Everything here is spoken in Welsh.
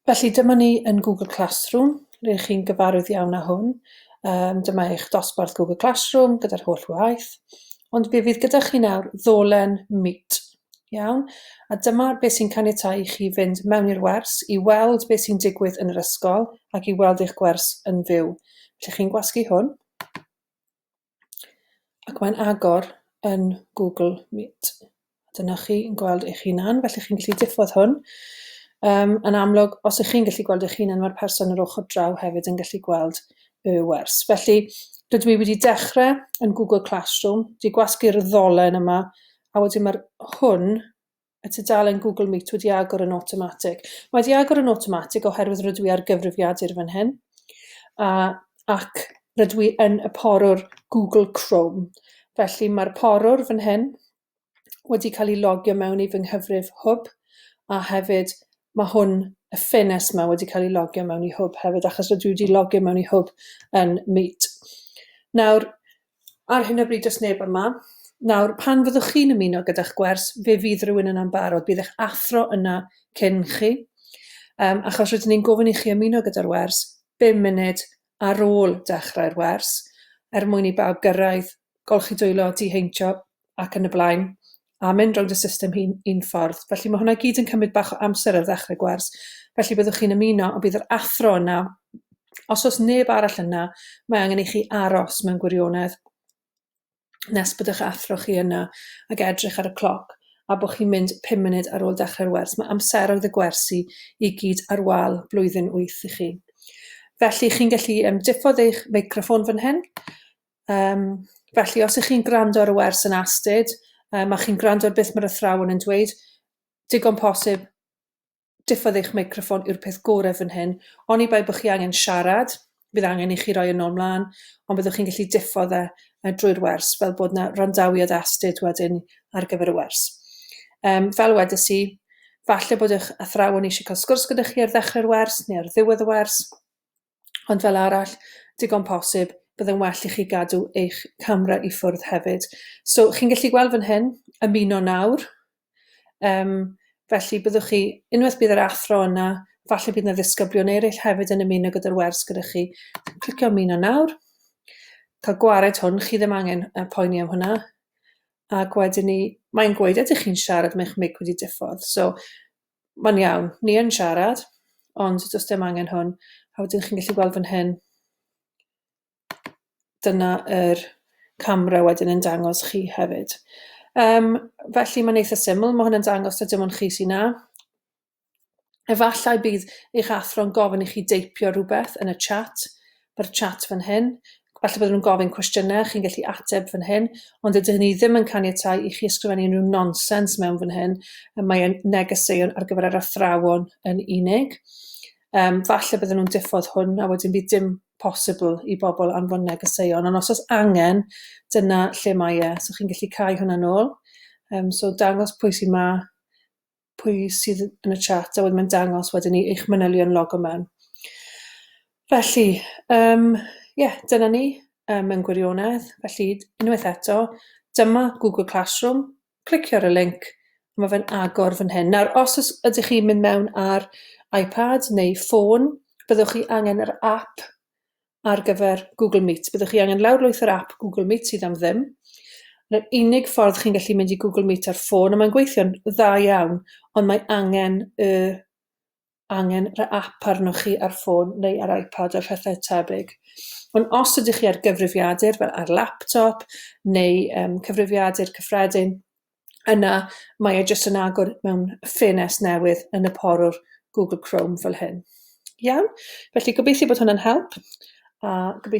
Felly dyma ni yn Google Classroom, ble chi'n gyfarwydd iawn â hwn. Yym dyma eich dosbarth Google Classroom gyda'r holl waith, ond fe fydd gyda chi nawr ddolen mute, iawn? A dyma beth sy'n caniatáu i chi fynd mewn i'r wers i weld beth sy'n digwydd yn yr ysgol ac i weld eich gwers yn fyw. Felly chi'n gwasgu hwn. ac mae'n agor yn Google Meet. Dyna chi yn gweld eich hunan, felly chi'n gallu diffodd hwn. Um, yn amlwg, os ych chi'n gallu gweld eich hunan, mae'r person yr ochr draw hefyd yn gallu gweld y wers. Felly, rydw i wedi dechrau yn Google Classroom, wedi gwasgu'r ddolen yma, a wedyn mae'r hwn y tudalen Google Meet wedi agor yn awtomatig. Mae wedi agor yn awtomatig oherwydd rydw i ar gyfrifiadur fan hyn a, ac rydw i yn y porwr Google Chrome. Felly mae'r porwr fan hyn wedi cael ei logio mewn i fy nghyfrif hwb a hefyd mae hwn, y ffenest yma, wedi cael ei logio mewn i hwb hefyd achos rydw i wedi logio mewn i hwb yn Meet. Nawr, Ar hyn o bryd does neb yma. Nawr, pan fyddwch chi'n ymuno gyda'ch gwers, fe fydd rhywun yna'n barod. Bydd eich athro yna cyn chi. Um, achos rydyn ni'n gofyn i chi ymuno gyda'r wers 5 munud ar ôl dechrau'r wers, er mwyn i bawb gyrraedd, golchi dwylo, diheintio, ac yn y blaen, a mynd rownd y system un un ffordd. Felly ma' hwnna i gyd yn cymryd bach o amser ar ddechre gwers, felly byddwch chi'n ymuno ond bydd yr athro yna. Os o's neb arall yna, mae angen i chi aros mewn gwirionedd nes bod 'ych athro chi yna ac edrych ar y cloc a bod chi'n mynd pum munud ar ôl dechrau'r wers. Mae amseroedd y gwersi i gyd ar wal blwyddyn wyth i chi. Felly chi'n gallu yym diffodd eich meicroffon fan hyn Yym, felly, os ych chi'n gwrando ar y wers yn astud, um, a chi'n gwrando ar beth mae'r athrawon yn dweud, digon posib, diffodd eich meicroffon yw'r peth gorau fan hyn. Oni bai bod chi angen siarad, bydd angen i chi roi yn ôl mlaen, ond byddwch chi'n gallu diffodd e uh, drwy'r wers, fel bod yna randawiad astud wedyn ar gyfer y wers. Um, fel wedys i, falle bod eich athrawon eisiau cael sgwrs gyda chi ar ddechrau'r wers neu ar ddiwedd y wers, ond fel arall, digon posib, byddai'n well i chi gadw eich camera i ffwrdd hefyd. So, chi'n gallu gweld fan hyn, ymuno nawr, um, felly byddwch chi, unwaith bydd yr athro yna, falle bydd yna ddisgyblion eraill hefyd yn ymuno gyda'r wers gyda chi. Clicio ymuno nawr, cael gwared hwn, chi ddim angen uh, poeni am hwnna. Ac wedyn ni, mae'n gweud, ydych chi'n siarad, mae'ch mic wedi diffodd. So, Mae'n iawn, ni yn siarad, ond does dim angen hwn. A wedyn chi'n gallu gweld fan hyn, dyna yr camera wedyn yn dangos chi hefyd. Um, felly mae'n eitha syml, mae hwnna'n dangos ta dim ond chi sy'n na. Efallai bydd eich athro'n gofyn i chi deipio rhywbeth yn y chat, mae'r chat fan hyn, falle bydden nhw'n gofyn cwestiynau, chi'n gallu ateb fan hyn, ond dydy hynny ddim yn caniatáu i chi ysgrifennu unrhyw nonsens mewn fan hyn, mae e'n negeseuon ar gyfer yr athrawon yn unig. Um, falle bydden nhw'n diffodd hwn a wedyn bydd dim posibl i bobl anfon negeseuon, ond os oes angen, dyna lle mae e. So chi'n gallu cael hwnna'n ôl. Um, so dangos pwy sy'n ma, pwy sydd yn y chat a wedyn mae'n dangos wedyn ni eich manylion logo mewn. Felly, um, ie, yeah, dyna ni um, mewn gwirionedd. Felly, unwaith eto, dyma Google Classroom, clicio ar y link, a mae fe'n agor fan hyn. Nawr, os ydych chi'n mynd mewn ar iPad neu ffôn, byddwch chi angen yr app ar gyfer Google Meet. Byddwch chi angen lawrlwyth yr app Google Meet sydd am ddim. Yr unig ffordd chi'n gallu mynd i Google Meet ar ffôn, a mae'n gweithio'n dda iawn, ond mae angen y angen yr app arnoch chi ar ffôn neu ar iPad a phethau tebyg. Ond os ydych chi ar gyfrifiadur fel ar laptop neu um, cyfrifiadur cyffredin, yna mae e jyst yn agor mewn ffenest newydd yn y porwr Google Chrome fel hyn. Iawn? Felly gobeithio bod hwnna'n help a gobeithio